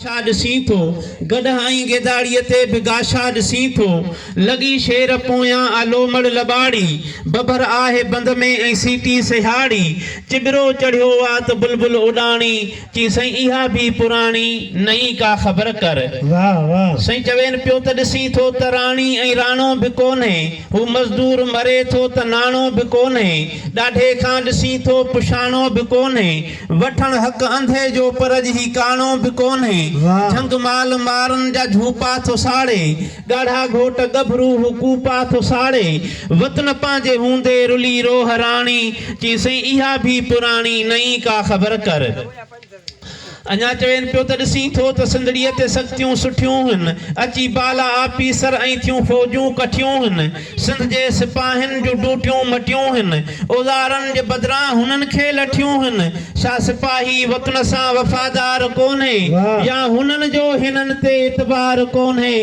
ڇا ڏسين ٿو، گڏهائين گيداڙيء تي به گاشا ڏسين ٿو، لڳي شير پويان آ لومڙ لٻاڙي، ببر آهي بند ۾ ۽ سيٽي سهياڙي، چٻرو چڙهيو آ ته بلبل اڏاڻي، چئين سائين اها به پراڻي، نئين ڪا خبر ڪر. واهه واهه سائين چوين پيو ته ڏسين ٿو ته راڻي ۽ راڻو به ڪونهي، هو مزدور مري ٿو ته ناڻو به ڪونهي، ڏاڍي کان ڏسين ٿو پشاڻو به ڪونهي، وٺڻ حق انڌي جو پر اڄ هي ڪاڻو به ڪونهي جهنگ مال مارن جا جهوپا ٿو ساڙي ڳاڙها گهوٽ ڳڀرو هو ڪوپا ٿو ساڙي وطن پنهنجي هوندي رلي روهه راڻي چئين سائين اها ڀي پراڻي نئين ڪا خبر ڪر اڃا چوين پيو ته ڏسين ٿو ته سنڌڙيء تي سختيون سٺيون هن اچي بالا آفيسر ۽ ٿيون فوجون ڪٺيون هن. سنڌ جي سپاهين جون ڊوٽيون مٽيون هن، اوزارن جي بدران هنن کي لٺيون هن، ڇا سپاهي وطن سان وفادار ڪونهي يا هنن جو هنن تي اعتبار ڪونهي،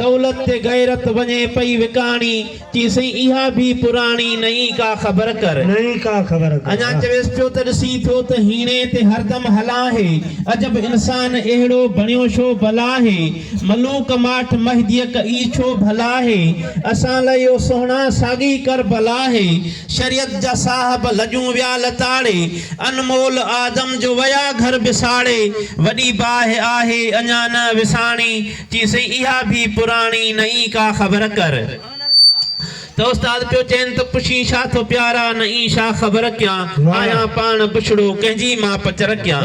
دولت تي غيرت وڃي پئي وڪاڻي، چي سائين اها ڀي پراڻي نئين ڪا خبر ڪر. اڃا چويس پيو ته ڏسين ٿو ته هيڻي تي هردم هلاهي، عجب انسان اهڙو بڻيو شو بلاهي. ملوڪ ماٺ مهديڪ اي ڇو ڀلا هي اسان لاء اهو سهڻا ساڳي ڪربلا هي شريعت جا صاحب لڄون ويا لتاڙي انمول آدم جو ويا گهر بساڙي وڏي باهه آهي اڃا نه وساڻي چيسين اها ڀي پراڻي نه ئي ڪا خبر ڪر. ته استاد پيو چين ته پڇين شاھ ٿو پيارا نه اين شاھ خبر ڪيان آھيان پاڻ بڇڙو ڪنھن جي ماپ چر ڪيان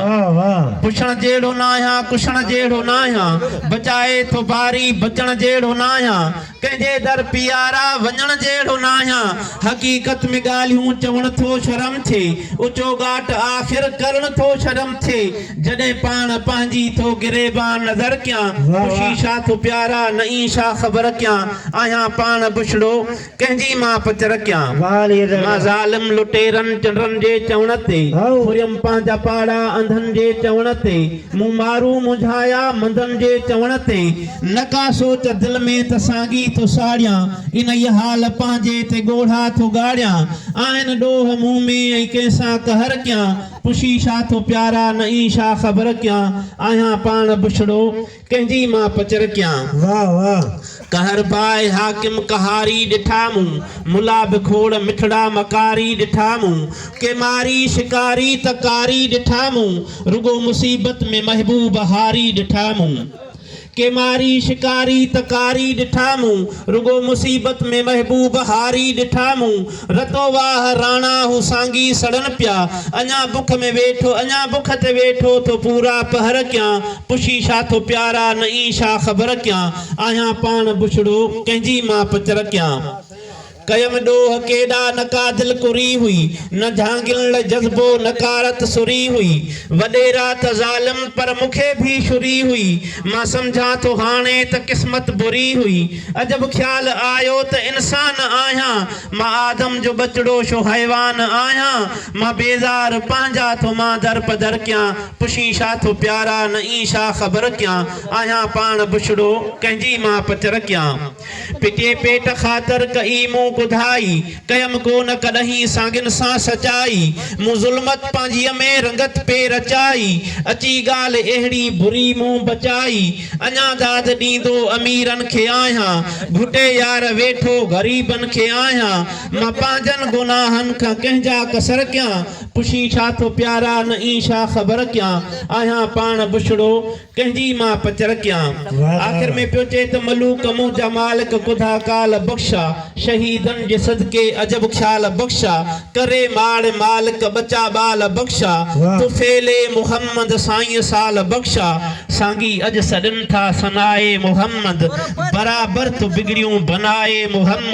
پڇڻ جهڙو نه آھيان ڪشڻ جهڙو نه آھيان بچائي ٿو باري بچڻ جهڙو نه آھيان ڪنھن جي در پيارا وڃڻ جهڙو نه آھيان حقيقت ۾ ڳالهيون چوڻ ٿو شرم ٿئي اچو ڳاٽ آخر ڪرڻ ٿو شرم ٿئي جڏهن پاڻ پنهنجي ٿو گريبان نظر ڪيان خوشي شاھ ٿو پيارا نه اين شاھ خبر ڪيان آهيان پاڻ بڇڙو ڪنهن جي مان پچر ڪيان مان ظالم لٽيرن چنڊرن جي چوڻ تي ڦريم پنهنجا پاڙا انڌن جي چوڻ تي مون مارون منجهايا منڌن جي چوڻ تي نه ڪا سوچ دل ۾ ته سانگي ٿو ساڙيان انهيء حال پنهنجي تي ڳوڙها ٿو ڳاڙيان آهن ڏوھ مون ۾ ۽ ڪنهن سان قهر ڪيان پڇي ڇا ٿو پيارا نه اي ڇا خبر ڪيان آهيان پاڻ بڇڙو ڪنهن جي مان پچر ڪيان. واھ واھ قهر باء حاڪم قهاري ڏٺا مون ملا به کوڙ مٺڙا مڪاري ڏٺا مون ڪي ماري شڪاري ته ڪاري ڏٺا مون رڳو مصيبت ۾ محبوب هاري ڏٺا مون ڪيماري شڪاري تڪاري ڏٺا مون، رڳو مصيبت ۾ محبوب هاري ڏٺا مون، رتو واهه راڻا هو سانگي سڙن پيا، اڃا بک ۾ ويٺو اڃا بک تي ويٺو ٿو پورا پهر ڪيان، پڇي ڇا ٿو پيارا نئين ڇا خبر ڪيان، آهيان پاڻ بڇڙو ڪنهن جي مان پچر ڪيان. ڪيم ڏوهه ڪيڏا نه ڪا دل ڪري هئي، نه جهانگين لئه جذبو نه ڪا رت سري هئي، وڏيرا ته ظالم پر مون کي ڀي شري هئي، مان سمجهان ٿو هاڻي ته قسمت بري هئي، عجب خيال آيو ته انسان آهيان، مان آدم جو ٻچڙو شو حيوان آهيان، مان بيزار پنهنجا ٿو مان در پدر ڪيان، پڇين شا ٿو پيارا نه اين شا خبر ڪيان، آهيان پاڻ بڇڙو ڪنهنجي مان پچر ڪيان. پٽي پيٽ خاطر ڪئي مون ڪڌائي، ڪيم ڪو نه ڪڏهين ساڱن سان سچائي، مون ظلمت پنهنجيء ۾ رنگت پئي رچائي، اچي ڳالهه اهڙي بري مون بچائي، اڃا داد ڏيندو اميرن کي آهيان، گهٽي يار ويٺو غريبن کي آهيان، مان پنهنجن گناهن کان ڪنهن جا قصر ڪيان، پڇين ڇا ٿو پيارا نه اين ڇا خبر ڪيان، آهيان پاڻ بڇڙو، ڪنهن جي مان پچر ڪيان. آخر ۾ پيو چئي ته ملوڪ مون جا مالڪ ڪڌا ڪال بخشا، شهيدن جي صدقي عجب خيال بخشا، ڪري ماڙ مالڪ ٻچا ٻال بخشا، طفيل محمد سائين سال بخشا، سانگي اڄ سڏن ٿا ثنائي محمد، برابر تو بگڙيون بنائي محمد.